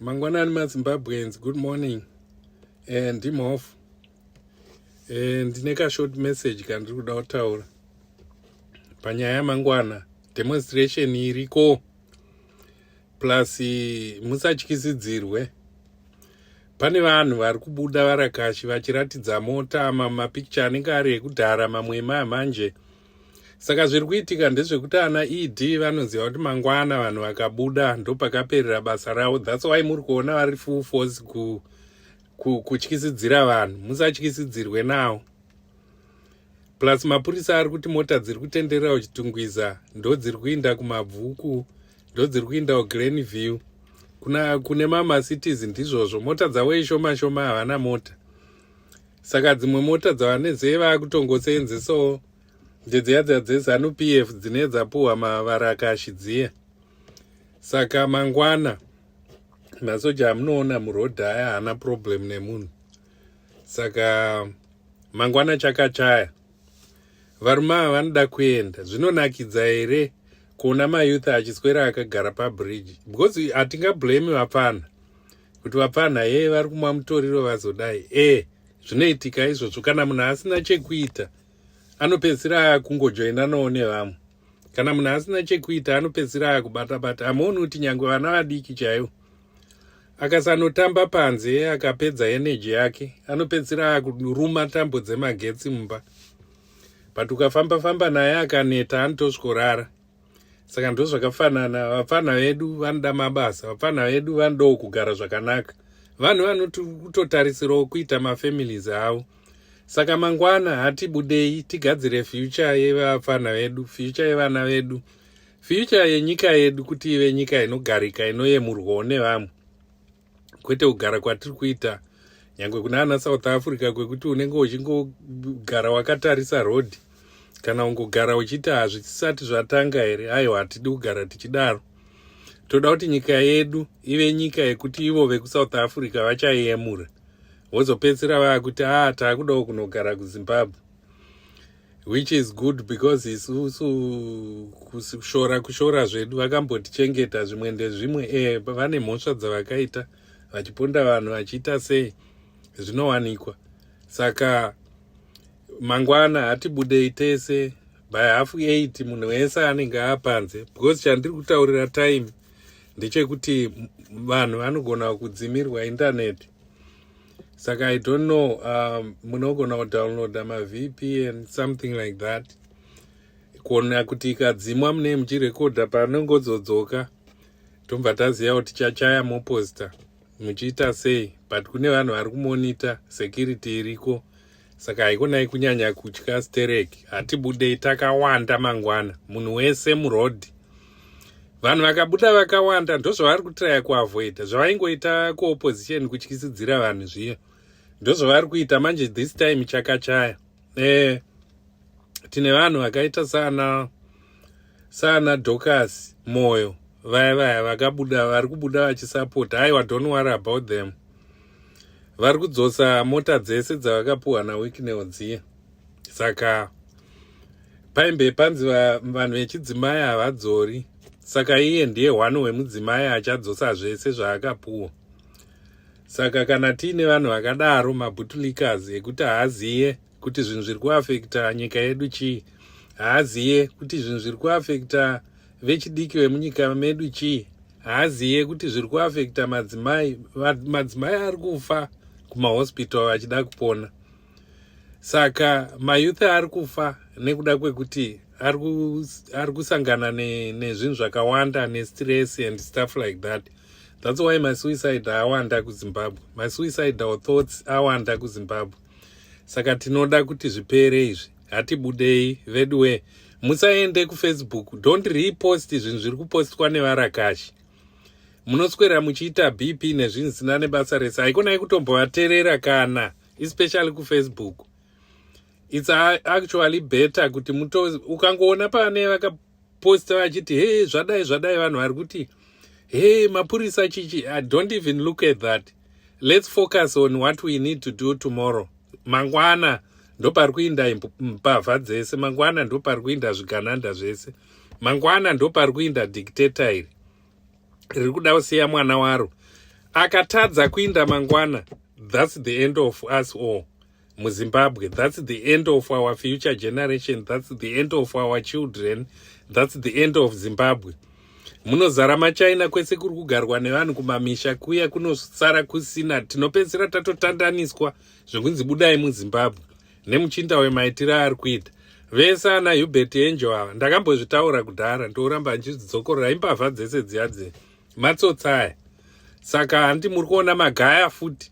mangwanani mazimbabweans good morning eh, ndimhofu eh, ndine kashort message kandiri kuda kutaura panyaya yamangwana demonstration iriko plus musatyisidzirwe pane vanhu vari kubuda varakashi vachiratidza mota mamapicture anenge ari ekudhara mamwe emaya manje saka zviri kuitika ndezvekuti ana ed vanoziva kuti mangwana vanhu vakabuda ndopakaperera basa ravo thats why muri kuona vari full force ku, ku, kutyisidzira vanhu musatyisidzirwe nawo plus mapurisa ari kuti mota dziri kutenderera uchitungwiza ndo dziri kuinda kumabvuku ndo dziri kuinda uglen view kuna kune mamacitiz ndizvozvo mota dzavo ishoma shoma havana mota saka dzimwe mota dzavanezee vakutongoseenzesawo ndedziya dziya dzezanu p f dzine dzapuhwa mavarakashi dziya saka mangwana masoja amunoona murodhi aya haana problem nemunhu saka mangwana chakachaya varume ava vanoda kuenda zvinonakidza here kuona mayouth achiswera akagara pabridge because hatingablame vapfana kuti vapfanha hee vari kumwa mutoriro vazodai e zvinoitika izvozvo kana munhu asina chekuita anopedzisira akungojoinanawo nevamwe kana munhu asina chekuita anopedzisira akubatabata hamuoni kuti nyange vana vadiki chaivo akasanotamba panze akapedza eneji yake anopedzisira akuruma tambo dzemagetsi mumba but ukafamba famba naye akaneta anotosvikorara saka ndozvakafanana vapfana vedu vanoda mabasa vapfana vedu vanodawo kugara zvakanaka vanhu vanoti kutotarisirawo kuita mafamilies avo saka mangwana hatibudei tigadzire fyucha yevapfana vedu fyucha yevana vedu fyucha yenyika yedu kuti ive nyika inogarika inoyemurwawo nevamwe kwete kugara kwatiri kuita nyange kuna ana south africa kwekuti unenge uchingogara wakatarisa road kana ungogara uchiti hazvisati zvatanga here aiwa hatidi kugara tichidaro toda kuti nyika yedu ive nyika yekuti ivo vekusouth africa vachayemura vozopedzisira vaakuti aa ah, taakudawo kunogara kuzimbabwe which is good because isusu kushora kushora zvedu vakambotichengeta zvimwe ndezvimwe e vane mhosva dzavakaita vachiponda vanhu vachiita sei zvinowanikwa saka mangwana hatibudei tese by half eight munhu wese anenge apanze because chandiri kutaurira time ndechekuti vanhu vanogona kudzimirwa intaneti saka i don't know um, munogona kudownloada mavpn something like that kuona kuti ikadzimwa mune muchirekodha panongodzodzoka tobva taziva kuti chachaya moposta muchiita sei but kune vanhu vari kumonita security iriko saka haikonai kunyanya kutya stereki hatibudei takawanda mangwana munhu wese murodhi vanhu vakabuda vakawanda ndozvavari kutiraya kuavoida zvavaingoita kuopposition kutyisidzira vanhu zviya ndozvavari kuita manje this time chakachaya e, tine vanhu vakaita sana saana docas moyo vaya vaya vakabuda vari kubuda vachisapota aiwa don't worry about them vari kudzosa mota dzese dzavakapuhwa nawicknel dziye saka paimbe panzi vanhu vechidzimai havadzori saka iye ndiye one wemudzimai achadzosa zvese zvaakapuhwa saka kana tiine vanhu vakadaro mabutulikas ekuti haaziye kuti zvinhu zviri kuafekta nyika yedu chii haaziye kuti zvinhu zviri kuafekta vechidiki vemunyika medu chii haaziye kuti zviri kuafekta madzimai madzimai ari kufa kumahospital achida kupona saka mayouth ari kufa nekuda kwekuti ari kusangana nezvinhu zvakawanda nestress and stuff like that that's why masuicide awanda kuzimbabwe masuicide or thoughts awanda kuzimbabwe saka tinoda kuti zvipere izvi hatibudei veduwe musaende kufacebook don't repost zvinhu zviri kupostwa nevarakashi munoswera muchiita bp nezvinhu zvisina nebasa rese haikona yekutombovaterera kana especially kufacebook its actually better kuti ukangoona pane posta vachiti hee zvadai zvadai vanhu vari kuti hee mapurisa chichi i don't even look at that let's focus on what we need to do tomorrow mangwana ndopari kuinda mbavha dzese mangwana ndopari kuinda zvigananda zvese mangwana ndopari kuinda dictator iri riri kuda kusiya mwana waro akatadza kuinda mangwana thats the end of us all muzimbabwe thats the end of our future generation thats the end of our children thats the end of zimbabwe munozara machina kwese kuri kugarwa nevanhu kumamisha kuya kunosara kusina tinopedzisira tatotandaniswa zvekunzi budai muzimbabwe nemuchinda wemaitiro aari kuita vese ana hubert angel ava ndakambozvitaura kudhara ndouramba ndichidzokorora imbavha dzese dziya dze matsotsaya saka handi muri kuona magaya futi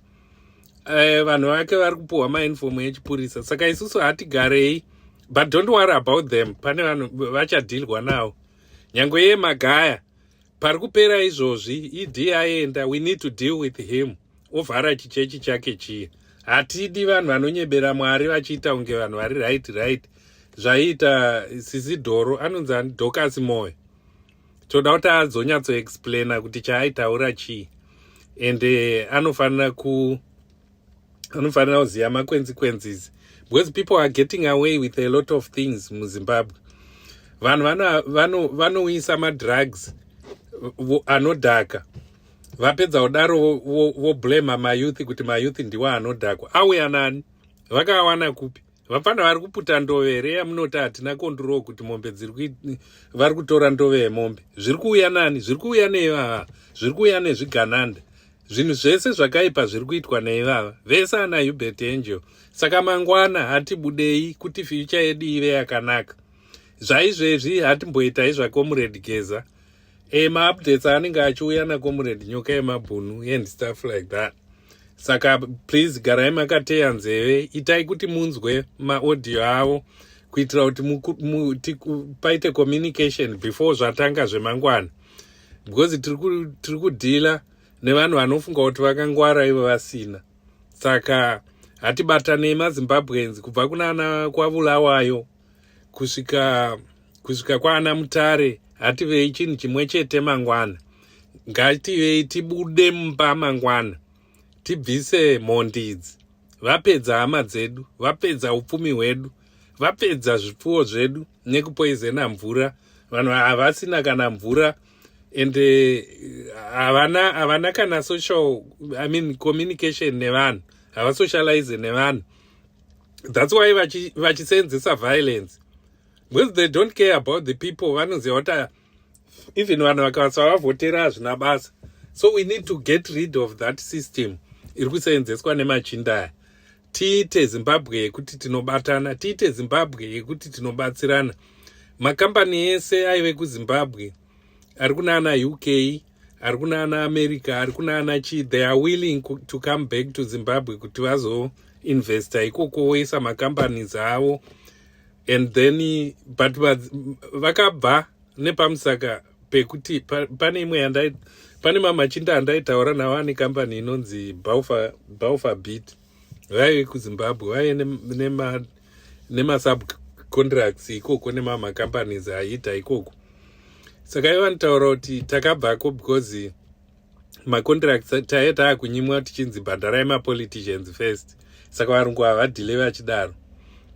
eh, vanhu vake vari kupuhwa mainfomu yechipurisa saka isusu hatigarei but don't worry about them pane vanhu vachadhilwa nawo nyange iye magaya pari kupera izvozvi idi aenda we need to deal with him ovhara chichechi chake chiye hatidi vanhu vanonyebera mwari vachiita kunge vanhu vari right right zvaiita sisi dhoro anonzi ani dhokasi moyo toda kuti adzonyatsoexplaina kuti chaaitaura chii and eh, anofanira ku anofanira kuziva makwenzi kwenzizi because people are getting away with a lot of things muzimbabwe vanhu vanouyisa vano, vano madrugs anodhaka vapedza kudaro voblema vo, vo mayouth kuti mayouth ndiwo anodhakwa auya nani vakawana kupi vapfana vari kuputa ndove here yamunoti hatina konduroo kuti mombe dziri vari kutora ndove yemombe zviri kuuya nani zviri kuuya neivava zviri kuuya nezvigananda zvinhu zvese zvakaipa zviri kuitwa neivava vese ana hubert angel saka mangwana hatibudei kuti fyucha yedu ive yakanaka zvaizvezvi hatimboita izvakomuredgeza e, maupdates anenge achiuya nakomuredi nyoka yemabhunu and stuff like that saka please garai makateya nzeve itai kuti munzwe maaudio avo kuitira kuti paite communication before zvatanga zvemangwana because tiri kudhila nevanhu vanofunga kuti vakangwara ivo vasina saka hatibatanei mazimbabweans kubva kunana kwavulawayo kusvika kusvika kwaana mutare hativei chinhu chimwe chete mangwana ngativei tibude mumba mangwana tibvise mhondi idzi vapedza hama dzedu vapedza upfumi hwedu vapedza zvipfuwo zvedu nekupoizena mvura vanhu havasina kana mvura and eh, havana uh, havana kana social i mean communication nevanhu havasocialize nevanhu that's why vachiseenzesa vachi violence because they don't care about the people vanoziva kuti ah, even vanhu vakasa vavhotera hazvina basa so we need to get rid of that system iri kuseenzeswa nemachinda aya tiite zimbabwe yekuti tinobatana tiite zimbabwe yekuti tinobatsirana makambani ese aive kuzimbabwe ari kunana uk ari kuna ana america ari kuna ana chi they are willing to come back to zimbabwe kuti vazoinvesta ikoko voisa macompanies avo and then but vakabva nepamusaka pekuti pane imwe yandai pane mamachinda andaitaura navo ane kambani inonzi baufa bit vaive kuzimbabwe vaive nemasub contracts ikoko nemamacompanies aiita ikoko saka iva nitaura kuti takabvako because macontracts taive taakunyimwa tichinzi bhadharai mapoliticians first saka varungu havadhile vachidaro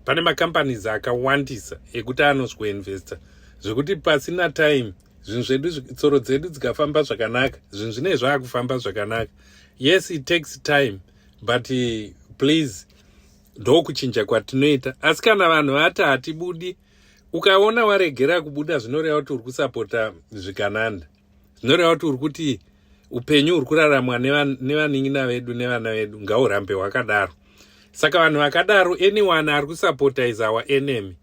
pane macompanies akawandisa ekuti anosweinvesta zvekuti pasina time zvinhu zvedu tsoro dzedu dzikafamba zvakanaka zvinhu zvinei zvaakufamba zvakanaka yes it takes time but eh, please ndokuchinja kwatinoita asi kana vanhu vati hatibudi ukaona waregera kubuda zvinoreva kuti uri kusapota zvikananda zvinoreva kuti uri kuti upenyu huri kuraramwa nevanin'ina vedu nevana vedu ngaurambe hwakadaro saka vanhu vakadaro anyone ari kusapota is our enemy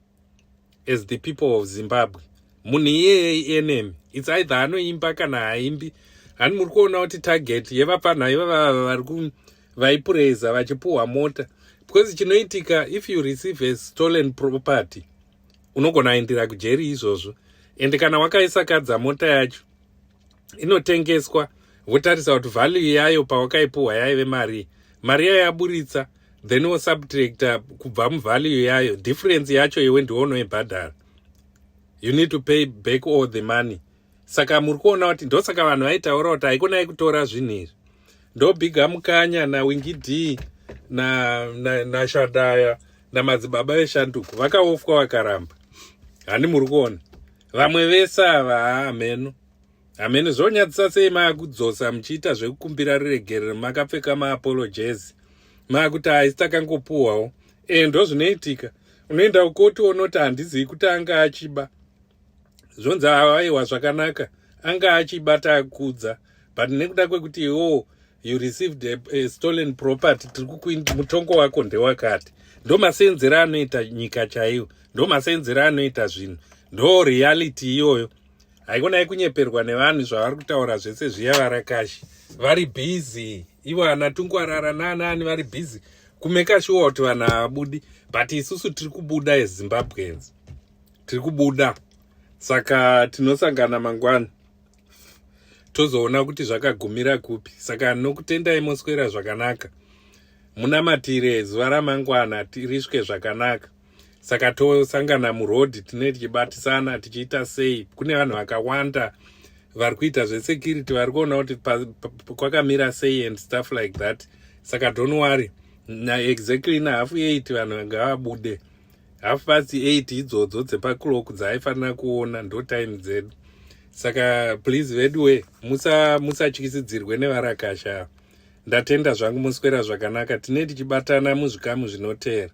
as the people of zimbabwe munhu iyeye enemy its either anoimba kana haimbi hani muri kuona kuti target yevapfanha ivavava vari ku vaipureza vachipuhwa mota because chinoitika if you receive a stolen property unogona aindira kujeri izvozvo ende kana wakaisakadza mota yacho inotengeswa wotarisa kuti value yayo pawakaipuhwa yaive mari mari yayo yaburitsa then wosubtracta kubva muvalue yayo difference yacho iwe ndiwo unoibhadhara you need to pay back all the money saka muri kuona kuti ndosaka vanhu vaitaura kuti haikonai kutora zvinhu izvi ndobhiga mukanya nawingi d nashadaya na, na namadzibaba veshanduko vakaofwa vakaramba handi muri kuona vamwe vese ava hameno hameno zvonyadzisa sei maakudzosa muchiita zvekukumbira ruregerero makapfeka maapologezi maakuti haisi takangopuhwawo e ndozvinoitika unoenda ukoti onoti handizivi kuti anga achiba zvonzi awaiwa zvakanaka anga achibata akudza but nekuda kwekuti iwowo you received a, a stolen property tiri kukuindi mutongo wako ndewakati ndo maseenzero anoita nyika chaiyo ndo maseenzero anoita zvinhu ndo reality iyoyo haikona yekunyeperwa nevanhu zvavari kutaura zvese zviya varakashi vari busy ivo ana tungwarara naanaani vari busy kumeka shuwa kuti vanhu havabudi but isusu tiri kubuda ezimbabweans tiri kubuda saka tinosangana mangwana tozoona kuti zvakagumira kupi saka nokutendai moswera zvakanaka munamatire zuva ramangwana tiriswe zvakanaka saka tosangana muroad tine tichibatisana tichiita sei kune vanhu vakawanda vari kuita zvesecurity vari kuona kuti kwakamira sei and stuff like that saka don't worry na exactly na half eight vanhu ngavabude half past eight idzodzo dzepaclock dzaaifanira kuona ndo time dzedu saka please veduwe musatyisidzirwe musa nevarakasha ndatenda zvangu moswera zvakanaka tine tichibatana muzvikamu zvinoteera